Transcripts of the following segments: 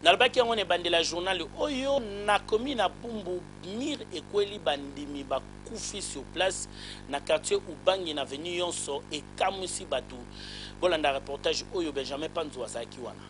Nalobaki yango na ebandeli ya journal oyo, nakomi na Bumbu, mur ekweli, bandimi bakufi sur place, na quartier Ubangi, na avenue yonso ekamwisi batu. Bolanda reportage oyo, Benjamin Panzu azalaki wana.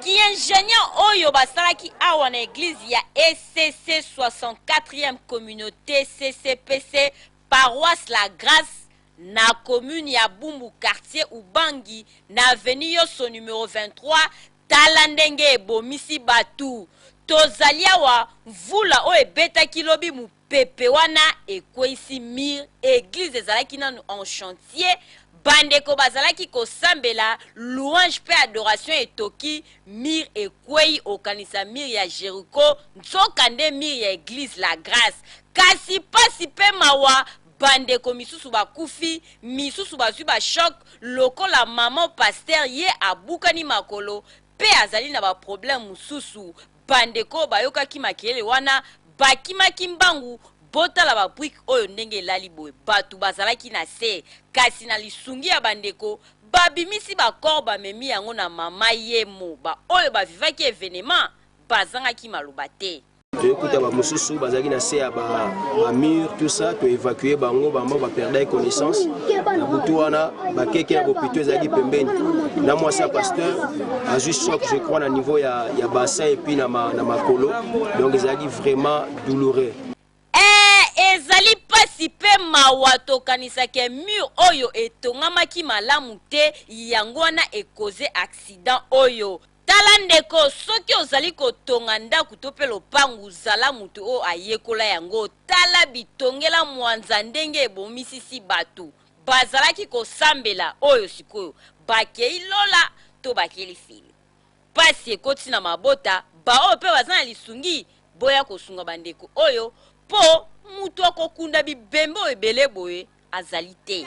Ki ingenieur oyo basalaki awa na eglise ya ECC 64 ieme communaute CCPC paroisse la grace na commune ya Bumbu quartier Ubangi na avenue Yosso numero 23 tala ndenge ebomisi batu tozali awa mvula oyo ebetaki lobi mupepe wana ekweyisi mur eglise ezalaki nanu en chantier bandeko bazalaki kosambela louange pe adoration etoki mur ekweyi okanisa mur ya Jericho nzoka nde mur ya eglise la grace kasi pasi pe mawa bandeko misusu bakufi, misusu bazwi ba choc lokola maman pasteur ye abukani makolo mpe azali na ba problèmes mosusu. Bandeko oyo bayokaki makelele wana bakimaki mbangu, botala ba briques oyo ndenge elali boye, batu bazalaki na se kasi na lisungi ya bandeko babimisi ba corps bamemi yango na mama Yemo. Ba oyo ba vivaki evenement bazangaki maloba te. toyekuta bamosusu bazalaki na se ya bamur tout ça toévacue bango bango baperdaki connaissance na butu wana bakeke ya bopito ezalaki pembeni na mwasi ya pasteur azwi choc je crois na niveau ya, ya bassin epuis na, ma, na makolo donc ezalaki vraiment douloureux eh, ezali mpasi mpe mawa tokanisaki mur oyo etongamaki malamu te yango wana ekoze accident oyo Tala ndeko, soki ozali kotonga ndako to mpe lopango, zala moto oyo ayekola yango. Tala bitongela mwanza ndenge ebomisisi bato. Bazalaki kosambela, oyo sikoyo bakei lola to bakei lifelo. Pasi ekoti na mabota, baoyo mpe baza na lisungi, boya kosunga bandeko oyo, mpo moto akokunda bibembe oyo ebele boye azali te.